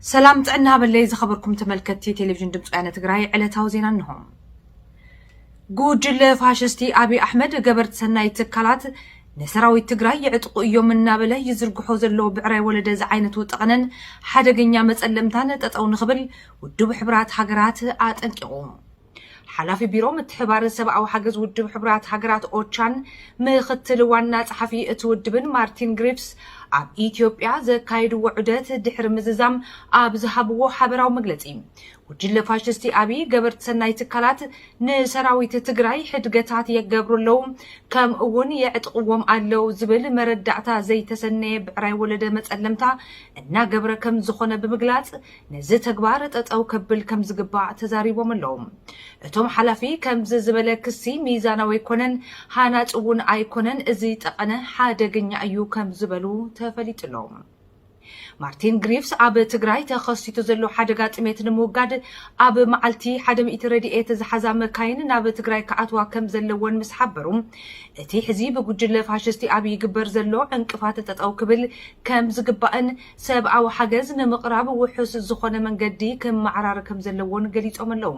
ሰላም ጥዕና ሃበለይ ዝኸበርኩም ተመልከትቲ ቴሌቪዥን ድምፂ ወያነ ትግራይ ዕለታዊ ዜና እንሆ። ጉጅለ ፋሽስቲ ኣብይ ኣሕመድ ገበርቲ ሰናይ ትካላት ንሰራዊት ትግራይ የዕጥቑ እዮም እናበለ ይዝርግሖ ዘሎ ብዕረ ወለደ ዝዓይነቱ ጠቕነን ሓደገኛ መፀለምታን ጠጠው ንኽብል ውድብ ሕብራት ሃገራት ኣጠንቂቑ። ሓላፊ ቢሮ ምትሕብባርን ሰብኣዊ ሓገዝ ውድብ ሕቡራት ሃገራት ኦቻን ምኽትል ዋና ጸሓፊ እቲ ውድብን ማርቲን ግሪፍስ ኣብ ኢትዮጵያ ዘካየድዎ ዑደት ድሕሪ ምዝዛም ኣብ ዝሃብዎ ሓበራዊ መግለጺ ጉጅለ ፋሽስቲ ኣብይ ገበርቲ ሰናይ ትካላት ንሰራዊት ትግራይ ሕድገታት የገብሩ ኣለዉ ከምኡ እውን የዕጥቕዎም ኣለዉ ዝብል መረዳእታ ዘይተሰነየ ብዕራይ ወለደ መጸለምታ እናገብረ ከም ዝኾነ ብምግላጽ ነዚ ተግባር ጠጠው ከብል ከምዝግባእ ተዛሪቦም ኣለው። እቶም ሓላፊ ከምዚ ዝበለ ክሲ ሚዛናዊ ኣይኮነን፣ ሃናፂ እውን ኣይኮነን፣ እዚ ጠቐነ ሓደገኛ እዩ ከምዝበሉ ተፈሊጡ ኣሎ። ማርቲን ግሪቭስ ኣብ ትግራይ ተኸሲቱ ዘሎ ሓደጋ ጥሜት ንምውጋድ ኣብ መዓልቲ ሓደ ሚእቲ ረድኤት ዝሓዛ መካይን ናብ ትግራይ ክኣትዋ ከም ዘለወን ምስ ሓበሩ እቲ ሕዚ ብጉጅለ ፋሽስቲ ኣብ ይግበር ዘሎ ዕንቅፋት ጠጠው ክብል ከም ዝግባእን ሰብኣዊ ሓገዝ ንምቕራብ ውሑስ ዝኾነ መንገዲ ክመዓራረ ከምዘለዎን ገሊፆም ኣለው።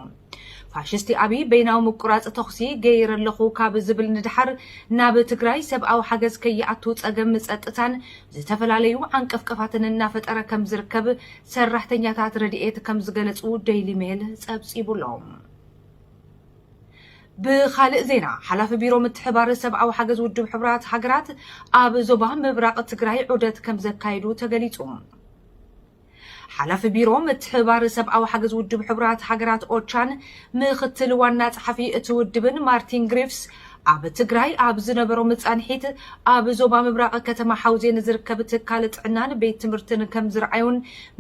ፋሽስቲ ኣብይ በይናዊ ምቁራፅ ተኹሲ ገይረ ኣለኹ ካብ ዝብል ንደሓር ናብ ትግራይ ሰብኣዊ ሓገዝ ከይኣቱ ፀገም ፀጥታን ዝተፈላለዩ ዓንቀፍቀፋትን እናፈጠረ ከምዝርከብ ሰራሕተኛታት ረድኤት ከምዝገለፁ ደይሊ ሜል ፀብፂቡ ኣሎ። ብኻልእ ዜና ሓላፊ ቢሮ ምትሕብባር ሰብኣዊ ሓገዝ ውድብ ሕቡራት ሃገራት ኣብ ዞባ ምብራቕ ትግራይ ዑደት ከምዘካየዱ ተገሊጹ። ሓላፊ ቢሮ ምትሕብባር ሰብኣዊ ሓገዝ ውድብ ሕቡራት ሃገራት ኦቻን ምኽትል ዋና ጸሓፊ እቲ ውድብን ማርቲን ግሪፍስ ኣብ ትግራይ ኣብ ዝነበሮም ጻንሒት ኣብ ዞባ ምብራቕ ከተማ ሓውዜን ዝርከብ ትካል ጥዕናን ቤት ትምህርትን ከምዝረኣዩን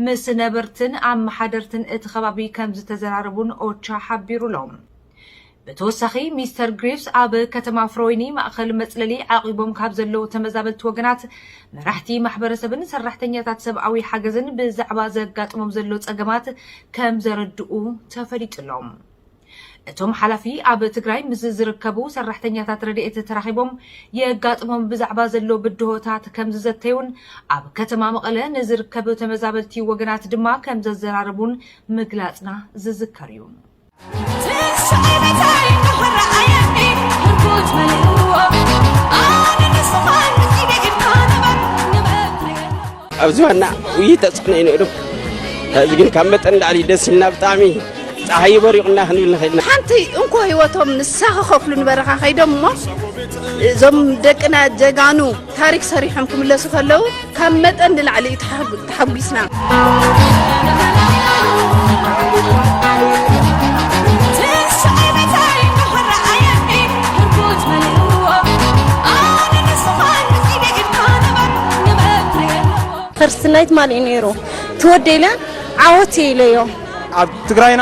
ምስ ነበርትን ኣመሓደርትን እቲ ከባቢ ከምዝተዘራረቡን ኦቻ ሓቢሩሎም። ብተወሳኺ ሚስተር ግሪቭስ ኣብ ከተማ ፍሮይኒ ማእኸል መፅለሊ ዓቂቦም ካብ ዘለዉ ተመዛበልቲ ወገናት፣ መራሕቲ ማሕበረሰብን ሰራሕተኛታት ሰብኣዊ ሓገዝን ብዛዕባ ዘጋጥሞም ዘሎ ፀገማት ከም ዘረድኡ ተፈሊጡ ኣሎ። እቶም ሓላፊ ኣብ ትግራይ ምስ ዝርከቡ ሰራሕተኛታት ረድኤት ተራኺቦም የጋጥሞም ብዛዕባ ዘሎ ብድሆታት ከም ዝዘተዩን ኣብ ከተማ መቐለ ንዝርከብ ተመዛበልቲ ወገናት ድማ ከም ዘዘራረቡን ምግላፅና ዝዝከር እዩ። ኣብ ዝባና ውይ ተፅዕኖ እዩ ነይሩ ሕዚ ግን ካብ መጠን ላዕሊ ደስ ኢልና ብጣዕሚ ፀሓይ በሪቑና ክንብል ንኽእል ኢና ሓንቲ እንኮ ህይወቶም ንሳ ክኸፍሉ ንበረኻ ከይዶም እሞ እዞም ደቅና ጀጋኑ ታሪክ ሰሪሖም ክምለሱ ከለው ካብ መጠን ንላዕሊ እዩ ተሓጒስና። ፈርስት ናይት ማን እዩ ነይሩ ትወደይለ ዓወት ኢለዮ ኣብ ትግራይና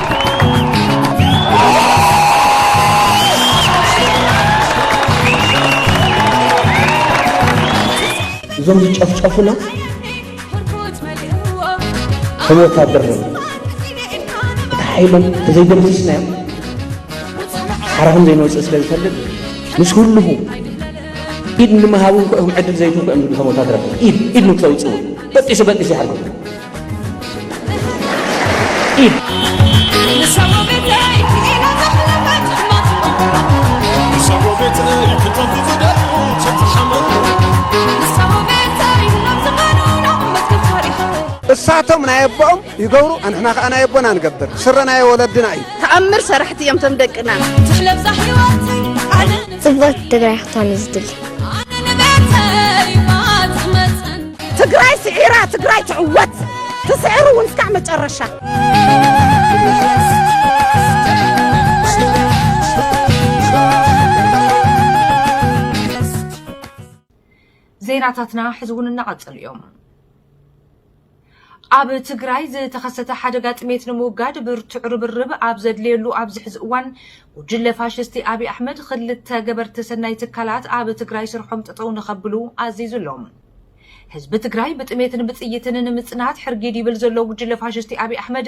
እዞም ዝጨፍጨፉና ከም ወታደር ነ እቲ ሓይሎም ተዘይደምስስናዮም ሓራ ከም ዘይንወፅእ ስለ ዝፈልጥ ምስ ህልኹ ኢድ ንምሃብ እውን ክኦም ዕድል ዘይትንኩ እዮም ዝብሉ ከም ወታደር ኢድ ኢድ ንክተውፅኡ በጢሱ በጢሱ ይሓርጉ እሳቶም ናይ ኣቦኦም ይገብሩ ኣንሕና ከዓ ናይ ኣቦና ንገብር ስረ ናይ ወለድና እዩ ተኣምር ሰራሕቲ እዮም ቶም ደቅና ፅብቕቲ ትግራይ ክትኾን እዩ ዝድሊ ትግራይ ስዒራ ትግራይ ትዕወት ትስዕር እውን እስካዕ መጨረሻ ዜናታትና ሕዚ እውን እናቐጸሉ እዮም ኣብ ትግራይ ዝተኸሰተ ሓደጋ ጥሜት ንምውጋድ ብርቱዕ ርብርብ ኣብ ዘድልየሉ ኣብዚ ሕዚ እዋን ጉጅለ ፋሽስቲ ኣብዪ ኣሕመድ ክልተ ገበርቲ ሰናይ ትካላት ኣብ ትግራይ ስርሖም ጠጠው ንኸብሉ ኣዚዙ ኣሎ ህዝቢ ትግራይ ብጥሜትን ብጥይትን ንምጽናት ሕርጊድ ይብል ዘሎ ጉጅለ ፋሽስቲ ኣብይ ኣሕመድ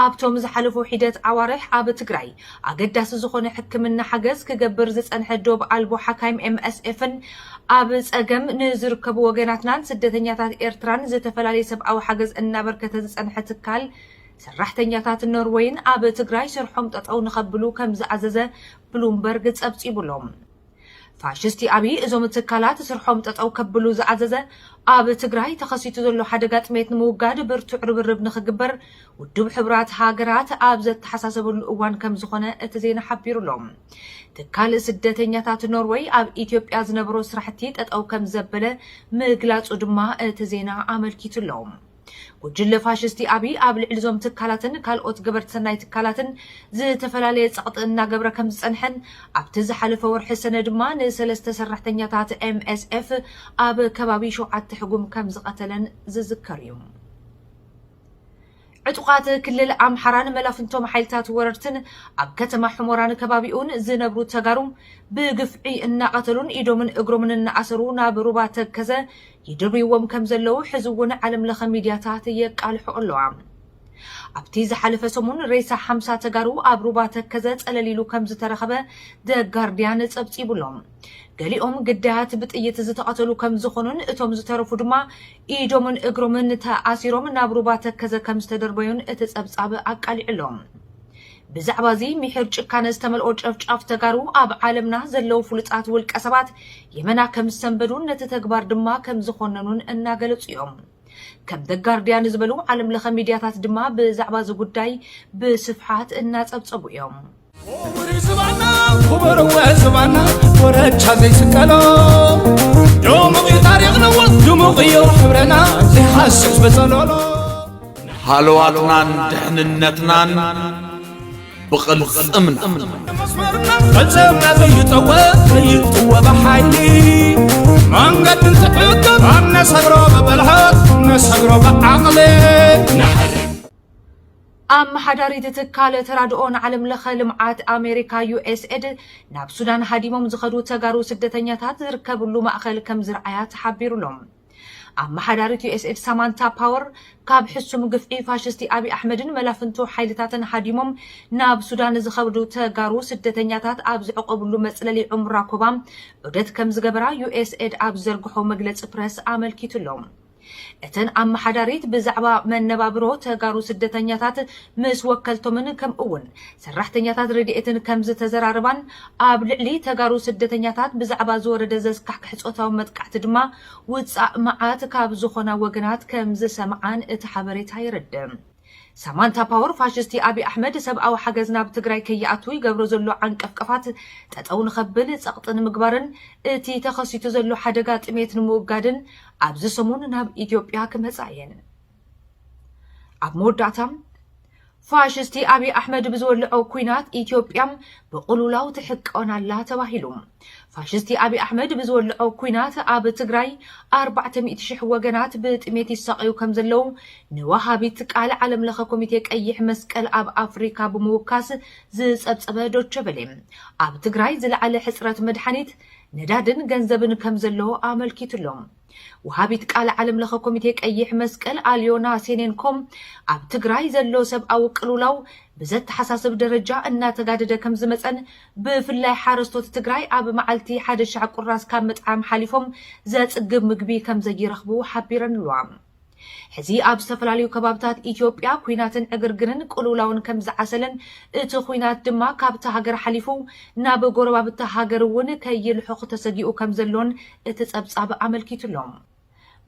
ኣብቶም ዝሓለፉ ሒደት ዓዋርሕ ኣብ ትግራይ ኣገዳሲ ዝኾነ ሕክምና ሓገዝ ክገብር ዝጸንሐ ዶብ ኣልቦ ሓካይም ኤምኤስኤፍን ኣብ ጸገም ንዝርከቡ ወገናትናን ስደተኛታት ኤርትራን ዝተፈላለየ ሰብኣዊ ሓገዝ እናበርከተ ዝጸንሐ ትካል ሰራሕተኛታት ኖርወይን ኣብ ትግራይ ስርሖም ጠጠው ንኸብሉ ከም ዝኣዘዘ ብሉምበርግ ጸብጺቡሎም። ፋሽስቲ ኣብይ እዞም ትካላት ስርሖም ጠጠው ከብሉ ዝኣዘዘ ኣብ ትግራይ ተኸሲቱ ዘሎ ሓደጋ ጥሜት ንምውጋድ ብርቱዕ ርብርብ ንኽግበር ውድብ ሕቡራት ሃገራት ኣብ ዘተሓሳሰበሉ እዋን ከም ዝኾነ እቲ ዜና ሓቢሩ ኣሎ። ትካል ስደተኛታት ኖርወይ ኣብ ኢትዮጵያ ዝነበሮ ስራሕቲ ጠጠው ከም ዘበለ ምግላፁ ድማ እቲ ዜና ኣመልኪቱ ኣሎ። ጉጅለ ፋሽስቲ ኣብይ ኣብ ልዕሊ እዞም ትካላትን ካልኦት ገበርቲ ሰናይ ትካላትን ዝተፈላለየ ፀቕጢ እናገብረ ከም ዝፀንሐን ኣብቲ ዝሓለፈ ወርሒ ሰነ ድማ ንሰለስተ ሰራሕተኛታት MSF ኣብ ከባቢ ሸውዓተ ሕጉም ከም ዝቐተለን ዝዝከር እዩ። ዕጡቓት ክልል ኣምሓራን መላፍንቶም ሓይልታት ወረርትን ኣብ ከተማ ሕሞራን ከባቢኡን ዝነብሩ ተጋሩ ብግፍዒ እናቐተሉን ኢዶምን እግሮምን እናኣሰሩ ናብ ሩባ ተከዘ ይድርብይዎም ከም ዘለዉ ሕዚ እውን ዓለም ለኸ ሚድያታት የቃልሕኦ ኣለዋ። ኣብቲ ዝሓለፈ ሰሙን ሬሳ ሓምሳ ተጋሩ ኣብ ሩባ ተከዘ ጸለል ኢሉ ከም ዝተረኸበ The Guardian ጸብጺቡ ኣሎ። ገሊኦም ግዳያት ብጥይት ዝተቐተሉ ከም ዝኾኑን እቶም ዝተረፉ ድማ ኢዶምን እግሮምን ተኣሲሮም ናብ ሩባ ተከዘ ከም ዝተደርበዩን እቲ ጸብጻብ ኣቃሊዑ ኣሎ። ብዛዕባ እዚ ሚሒር ጭካነ ዝተመልኦ ጨፍጫፍ ተጋሩ ኣብ ዓለምና ዘለዉ ፍሉጣት ውልቀ ሰባት የመና ከም ዝሰንበዱን ነቲ ተግባር ድማ ከም ዝኾነኑን እናገለጹ እዮም። ከም The Guardian ዝበሉ ዓለም ለኸ ሚድያታት ድማ ብዛዕባ እዚ ጉዳይ ብስፍሓት እናጸብጸቡ እዮም። ኦምሪ ዝባና ኩበርወ ዝባና ወረቻ ዘይስቀሎ ድሙቕ እዩ ታሪኽና ድሙቕ እዩ ሕብረና ዘይሓስስ በጸሎሎ ንሃለዋትናን ድሕንነትናን ብቕልፅምና ፈፀምና ዘይጠወ ዘይጥወ ብሓይሊ መንገዲ ዝሕግር ኣነሰግሮ ብብልሓት ነሰግሮ ብዓቕሊ ኣመሓዳሪት ትካል ተራድኦን ዓለም ለኸ ልምዓት ኣሜሪካ ዩኤስኤድ ናብ ሱዳን ሃዲሞም ዝኸዱ ተጋሩ ስደተኛታት ዝርከብሉ ማእኸል ከም ዝርኣያ ተሓቢሩሎም ኣመሓዳሪት ዩኤስኤድ ሳማንታ ፓወር ካብ ሕሱም ግፍዒ ፋሽስቲ ኣብይ ኣሕመድን መላፍንቱ ሓይልታትን ሃዲሞም ናብ ሱዳን ዝኸብዱ ተጋሩ ስደተኛታት ኣብ ዝዕቆብሉ መፅለሊ ዑምራ ኮባ ዑደት ከም ዝገበራ ዩኤስኤድ ኣብ ዘርግሖ መግለፂ ፕረስ ኣመልኪቱ ኣሎ። እተን ኣመሓዳሪት ብዛዕባ መነባብሮ ተጋሩ ስደተኛታት ምስ ወከልቶምን ከምኡ'ውን ሰራሕተኛታት ረድኤትን ከም ዝተዘራረባን ኣብ ልዕሊ ተጋሩ ስደተኛታት ብዛዕባ ዝወረደ ዘስካሕክሕ ጾታዊ መጥቃዕቲ ድማ ውጻእ መዓት ካብ ዝኾና ወገናት ከም ዝሰምዓን እቲ ሓበሬታ የረድእ። ሳማንታ ፓወር ፋሽስቲ ኣቢይ ኣሕመድ ሰብኣዊ ሓገዝ ናብ ትግራይ ከይኣቱ ይገብሮ ዘሎ ዓንቀፍቀፋት ጠጠው ንኸብል ጸቕጢ ንምግባርን እቲ ተኸሲቱ ዘሎ ሓደጋ ጥሜት ንምውጋድን ኣብዚ ሰሙን ናብ ኢትዮጵያ ክመጻ እየን። ኣብ መወዳእታ ፋሽስቲ ኣብዪ ኣሕመድ ብዝወልዖ ኩናት ኢትዮጵያ ብቕሉላው ትሕቀን ኣላ ተባሂሉ ፋሽስቲ ኣብዪ ኣሕመድ ብዝወልዖ ኩናት ኣብ ትግራይ 400 ሽሕ ወገናት ብጥሜት ይሳቐዩ ከም ዘለዉ ንወሃቢት ቃል ዓለም ለኸ ኮሚቴ ቀይሕ መስቀል ኣብ ኣፍሪካ ብምውካስ ዝፀብፀበ ዶቸበሌ ኣብ ትግራይ ዝለዓለ ሕፅረት መድሓኒት ነዳድን ገንዘብን ከም ዘሎ ኣመልኪቱሎም ወሃቢት ቃል ዓለምለኸ ኮሚቴ ቀይሕ መስቀል ኣልዮና ሴኔንኮ ኣብ ትግራይ ዘሎ ሰብኣዊ ቅልውላው ብዘተሓሳስብ ደረጃ እናተጋደደ ከምዝመፀን ብፍላይ ሓረስቶት ትግራይ ኣብ መዓልቲ ሓደ ሻዕ ቁራስ ካብ ምጥዓም ሓሊፎም ዘፅግብ ምግቢ ከምዘይረኽቡ ሓቢረን'ለዋ። ሕዚ ኣብ ዝተፈላለዩ ከባብታት ኢትዮጵያ ኲናትን ዕግርግርን ቅልውላውን ከም ዝዓሰለን እቲ ዂናት ድማ ካብታ ሃገር ሓሊፉ ናብ ጎረባብቲ ሃገር እውን ከይልሑኽ ተሰጊኡ ከም ዘሎን እቲ ጸብጻብ ኣመልኪቱ ኣሎ።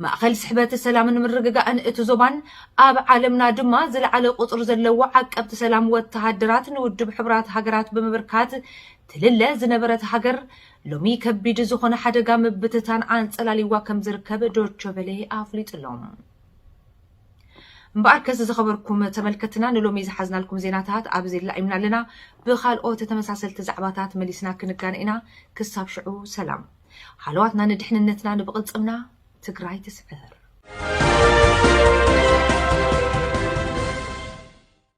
ማእኸል ስሕበት ሰላምን ምርግጋእን እቲ ዞባን ኣብ ዓለምና ድማ ዝለዓለ ቁጽሪ ዘለዎ ዓቀብቲ ሰላም ወተሃደራት ንውድብ ሕቡራት ሃገራት ብምብርካት ትልለ ዝነበረት ሃገር ሎሚ ከቢድ ዝኾነ ሓደጋ ምብትታን ኣንጸላልይዋ ከም ዝርከብ ዶቸ ቨለ ኣፍሊጡ ኣሎ። እምበኣርከስ ዝኸበርኩም ተመልከትና ንሎሚ ዝሓዝናልኩም ዜናታት ኣብዚ ላኢምና ኣለና። ብኻልኦት ተመሳሰልቲ ዛዕባታት መሊስና ክንጋነ ኢና። ክሳብ ሽዑ ሰላም። ሃለዋትና ንድሕንነትና ንብቕልጽምና ትግራይ ትስዕር።